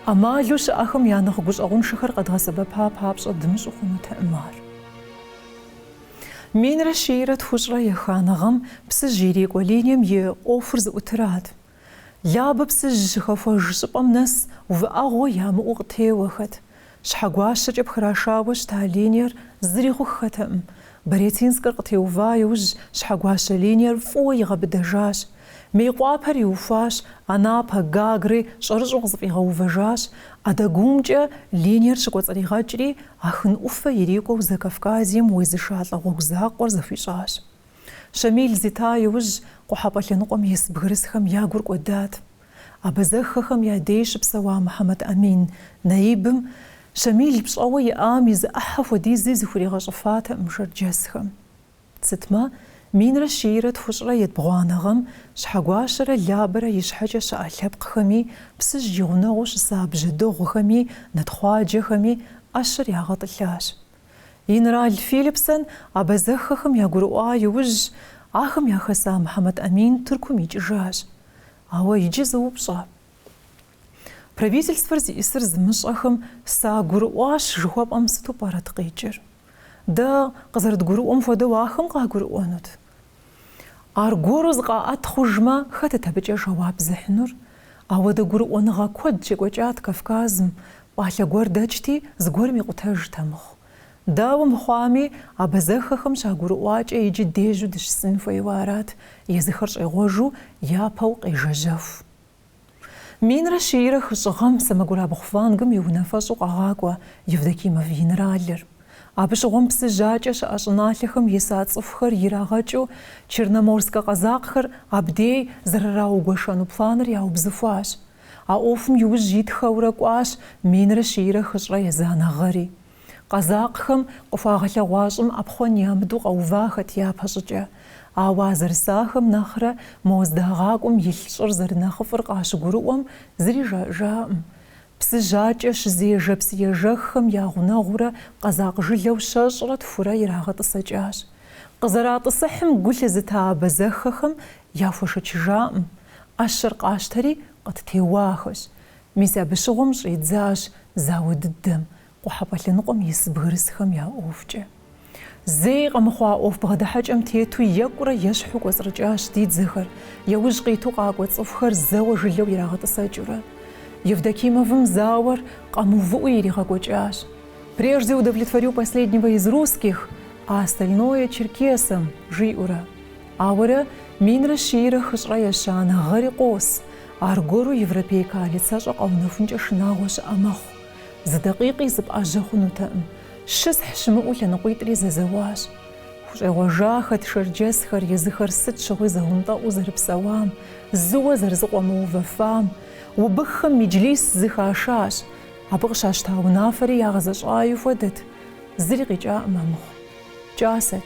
ӏэмалу щыӏэхэм я нэхъ гущӏэгъуншэхэр къэдгъэсэбэпа папщӏэ дымыщӏу хъунутэкъым ар. Минрэ щийрэ тхущӏрэ еханэ гъэм Псыжь ирикӏуэ линием и ӏуэхур зыӏутырат. Лабэ Псыжь щыхэхуэж щӏыпӏэм нэс увыӏэгъуэ ямыӏэу къытеуэхэт. Щхьэгуащэкӏэ пхрашауэ щыта линиер зыри хъуххэтэкъым. Барятинскэр къытеува иужь Щхьэгуащэ линиер фӏыуэ игъэбыдэжащ. Мейкъуапэр иухуащ, Анапэ, Гагрэ щӏэрыщӏэу къызэфӏигъэувэжащ. Адагумкӏэ линиер щыкӏуэцӏригъэкӏри, Ахын ӏуфэ ирикӏуэу Закавказьем уезышалӏэ гъуэгу закъуэр зэхуищӏащ. Щамил зита иужь, Къухьэпӏэ лъэныкъуэм ис бгырысхэм я гур кӏуэдат. Абазэхэхэм я дей щыпсэуа Мухьэмэд Амин наибым Щамил пщӏэуэ иӏам и зы ӏыхьэ хуэдизи зыхуригъэщӏыфатэкъым шэрджэсхэм. Сытмэ, минрэ щийрэ тхущӏрэ етбгъуанэ гъэм Щхьэгуащэрэ Лабэрэ и щхьэкӏэ щыӏэ лъэпкъхэми, Псыжь и гъунэгъуу щыса бжьэдыгъухэми, нэтхъуаджэхэми ӏэщэр ягъэтӏылъащ. Инрал Филипсон абазэхэхэм ягурыӏуа иужь, ахэм яхэса Мухьэмэд Амин Тыркум икӏыжащ. Ауэ иджы зы упщӏэ. Правительствэр зиӏысыр зымыщӏэхэм сагурыӏуащ жыхуэпӏэм сыту пӏэрэт къикӏыр? Дэ къызэрыдгурыӏуэм хуэдэу ахэм къагурыӏуэнут. Аргуэру зыкъаӏэт хъужмэ, хэтыт абыкӏэ жэуап зыхьынур? Ауэдэ гурыӏуэныгъэ куэд щекӏуэкӏат Кавказым, пӏалъэ гуэр дэкӏти, зыгуэрым икъутэжт амыхъу. Дауэ мыхъуами, абазэхэхэм щагурыӏуакӏэ иджы дежьу дыщысын хуейуэ арат, езыхэр щӏегъуэжу, япэу къежэжьэху. Минрэ щийрэ хыщӏ гъэм сэмэгурабгъу флангым и унафэщӏу къагъакӏуэ Евдокимов генералыр. Абы щыгъуэм Псыжь акӏэ щыӏэ щӏыналъэхэм иса цӏыхухэр ирагъэкӏыу Черноморскэ къэзакъхэр абдей зэрыраугуэшэну планыр яубзыхуащ. А ӏуэхум иужь итхэурэ кӏуащ минрэ щийрэ хыщӏрэ езанэ гъэри. Къэзакъхэм къыхуагъэлъэгъуа щӏым ӏэпхъуэн ямыдэу къэувахэт япэщӏыкӏэ. Ауэ а зэрысахэм нэхърэ мо здагъакӏуэм илъ щӏыр зэрынэхъыфӏыр къащыгурыӏуэм зыри жаӏэжакъым. Псыжь акӏэ щызежэ псыежэххэм я гъунэгъуурэ къэзакъ жылэу щэщӏрэ тхурэ ирагъэтӏысэкӏащ. Къызэратӏысыхьым гу лъызыта абазэхэхэм яхуэшэчыжакъым, ӏэщэр къащтэри къыттеуахэщ. Мис абы щыгъуэм щӏидзащ зауэ дыдэм, Къухьэпӏэ лъэныкъуэм ис бгырысхэм я ӏуэхукӏэ. Зэи къэмыхъуа ӏуэху бгъэдыхьэкӏэм тету екӏурэ-ещхьу кӏуэцӏрыкӏащ ди дзэхэр, яужь къиту къакӏуэ цӏыхухэр зэуэ жылэу ирагъэтӏысэкӏыурэ. Евдокимовым зауэр къэмыувыӏэу иригъэкӏуэкӏащ. Прежде удовлетворю последнего из русских, а остальное черкесам, жиӏэурэ. Ауэрэ, минрэ щийрэ хыщӏрэ ещанэ гъэри къос, аргуэру европей коалицэщӏэ къэунэхункӏэ шынагъуэ щыӏэ мэхъу. Зы дакъикъи зыпӏэжьэ хъунутэкъым. Щысхь щымыӏэу лъэныкъуитӏри зэзэуащ. Хущӏегъуэжахэт шэрджэсхэр, езыхэр сыт щыгъуи зэнтӏэӏуу зэрыпсэуам, зыуэ зэрызыкъуэмыувэфам, убыххэм меджлис зыхашащ. Абы къыщащта унафэри ягъэзэщӏаи хуэдэт, зыри къикӏаӏым амыхъу. Кӏасэт.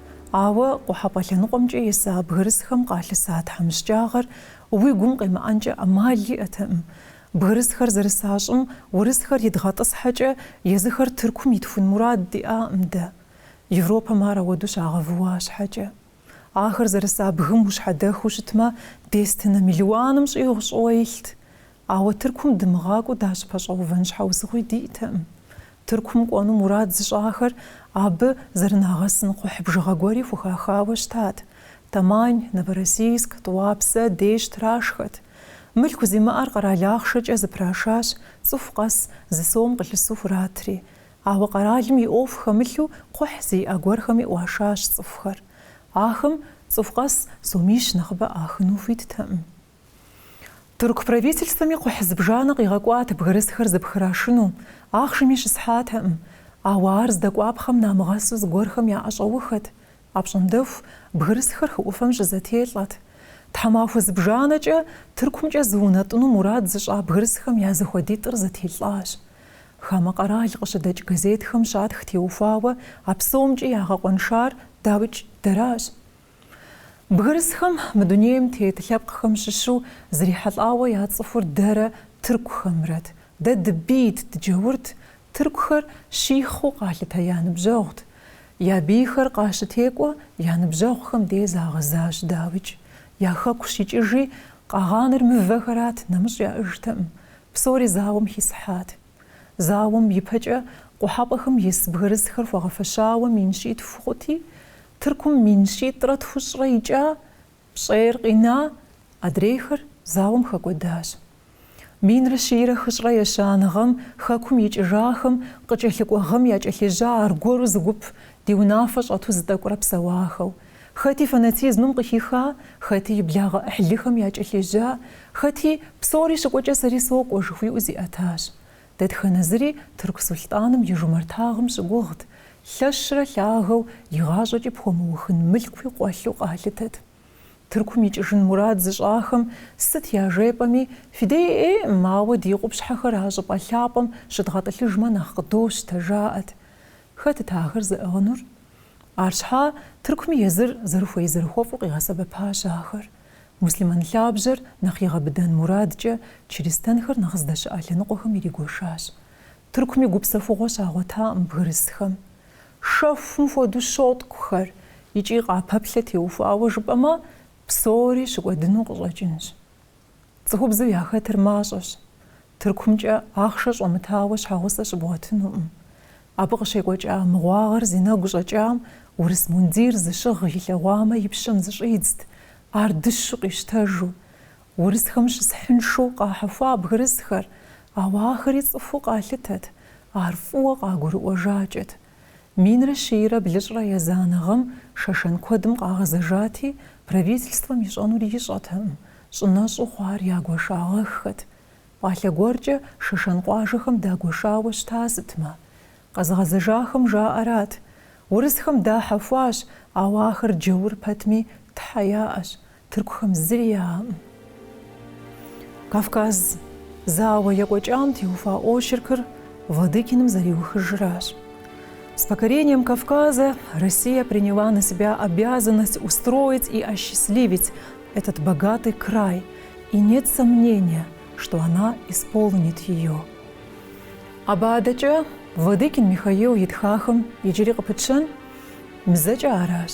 Ауэ Къухьэпӏэ лъэныкъуэмкӏэ иса бгырысхэм къалъыса тхьэмыщкӏагъэр уи гум къемыӏэнкӏэ ӏэмал иӏэтэкъым. Бгырысхэр зэрыса щӏым урысхэр идгъэтӏысхьэкӏэ, езыхэр Тыркум итхун мурад диӏакъым дэ. Европэм ар ауэдэу щагъэвыуа щхьэкӏэ. Ахэр зэрыса бгым ущхьэдэхыу щытмэ, дестынэ мелуаным щӏигъу щӏыуэ илът. Ауэ Тыркум дымыгъакӏуэу дащӏыпэщӏэувэн щхьэусыгъуи диӏтэкъым. Тыркум кӏуэну мурад зыщӏахэр абы зэрынагъэсын кхъухь бжыгъэ гуэри хухахауэ щытат. Тамань, Новороссийск, Тӏуапсэ деж трашхэт. Мылъку зимыӏэр къэрал ахъшэкӏэ зэпрашащ, цӏыху къэс зы сом къылъысу хуратри. Ауэ къэралым и ӏуэху хэмылъу кхъухь зиӏэ гуэрхэми ӏуашащ цӏыхухэр. Ахэм цӏыху къэс сомищ нэхъыбэ ӏахыну хуиттэкъым. Тырку правительствэми кхъухь зыбжанэ къигъэкӏуат бгырысхэр зэпхырашыну, ахъшэми щысхьатэкъым, ауэ ар здэкӏуапхъэм намыгъэсу зыгуэрхэм яӏэщӏэухэт. Апщӏондэху бгырысхэр хы ӏуфэм щызэтелӏэт. Тхьэмахуэ зыбжанэкӏэ Тыркумкӏэ зыунэтӏыну мурад зыщӏа бгырысхэм я зэхуэдитӏыр зэтелӏащ. Хамэ къэрал къыщыдэкӏ газетхэм щатх теухуауэ а псомкӏи ягъэкъуэншар, дауикӏ, дэращ. Бгырысхэм мы дунейм тет лъэпкъхэм щыщу зрихьэлӏауэ яцӏыхур дэрэ тыркухэмрэт. Дэ дыбийт, дыджэурт, тыркухэр щихъыу къалъытэ я ныбжьэгъут. Я бийхэр къащытекӏуэ, я ныбжьэгъухэм дей загъэзащ дауикӏ. Я хэку щикӏыжи, къагъэнар мывэхэрат, нэмыщӏ яӏэжтэкъым. Псори зауэм хисхьат. Зауэм ипэкӏэ къухьэпӏэм ис бгырысхэр хуагъэфэщауэ мин щитху хъути, Тыркум мин щитӏрэ тхущӏрэ икӏа, пщӏейр къина, адрейхэр зауэм хэкӏуэдащ. Минрэ щийрэ хыщӏрэ ещанэ гъэм Хэкум икӏыжахэм къыкӏэлъыкӏуэ гъэм якӏэлъежьа аргуэру зы гуп ди унафэ щӏэту зытӏэкӏурэ псэуахэу, Хэти фанатизмым къыхиха, хэти и благъэ ӏыхьлыхэм якӏэлъежьа, хэти, Псори щыкӏуэкӏэ сэри сокӏуэ, жыхуиӏэу зиӏэтащ. Дэтхэнэ зыри тырку сулътӏаным и жумартагъым щыгугът, лъэщрэ лъагэу, игъащӏэкӏи пхуэмыухын мылъкуи къуэлъу къалъытэт. Тыркум икӏыжын мурад зыщӏахэм сыт яжепӏэми, фыдеӏеӏым, ауэ ди къупщхьэхэр а щӏыпӏэ лъапӏэм щыдгъэтӏылъыжмэ нэхъ къыдощтэ, жаӏэт. Хэтыт ахэр зыӏыгъынур? Арщхьа Тыркуми езыр зэрыхуей-зэрыхуэфӏу къигъэсэбэпащ ахэр. Муслъымэн лъабжьэр нэхъ игъэбыдэн мурадкӏэ, чыристанхэр нэхъ здэщыӏэ лъэныкъуэхэм иригуэшащ. Тыркуми гупсэхугъуэ щагъуэтакъым бгырысхэм. Шэхум хуэдэу щоткӏухэр, икӏи къапэплъэ теухуауэ жыпӏэмэ, псори щыкӏуэдыну къыщӏэкӏынщ. Цӏыхубзу яхэтыр мащӏэщ. Тыркумкӏэ ахъшэ щӏэмытауэ щхьэгъусэ щыбгъуэтынукъым. Абы къыщекӏуэкӏа мыгъуагъэр зи нэгу щӏэкӏам урыс мундир зыщыгъ илъэгъуамэ и пщэм зыщӏидзт, ар дыщу къищтэжу. Урысхэм щысхьыншэу къахьэхуа бгырысхэр, ауэ ахэри цӏыхуу къалъытэт, ар фӏыуэ къагурыӏуэжакӏэт. Минрэ щийрэ блыщӏрэ езанэ гъэм шэшэн куэдым къагъэзэжати, правительствэм ищӏэнур ищӏэтэкъым, щӏынэщӏу хъуар ягуэшагъэххэт. Пӏалъэ гуэркӏэ шэшэн къуажэхэм дагуэшауэ щыта сытмэ. Къэзыгъэзэжахэм жаӏэрат, Урысхэм дахьэхуащ, ауэ ахэр джэур пэтми, тхьэ яӏэщ. Тыркухэм зыри яӏэкъым. Кавказ зауэ екӏуэкӏам теухуа очеркыр Владыкиным зэриухыжращ. С покорением Кавказа Россия приняла на себя обязанность устроить и осчастливить этот богатый край, и нет сомнения, что она исполнит ее. Абы адэкӏэ Владыкин Михаил итхахэм иджыри къыпытщэн, Мызэкӏэ аращ.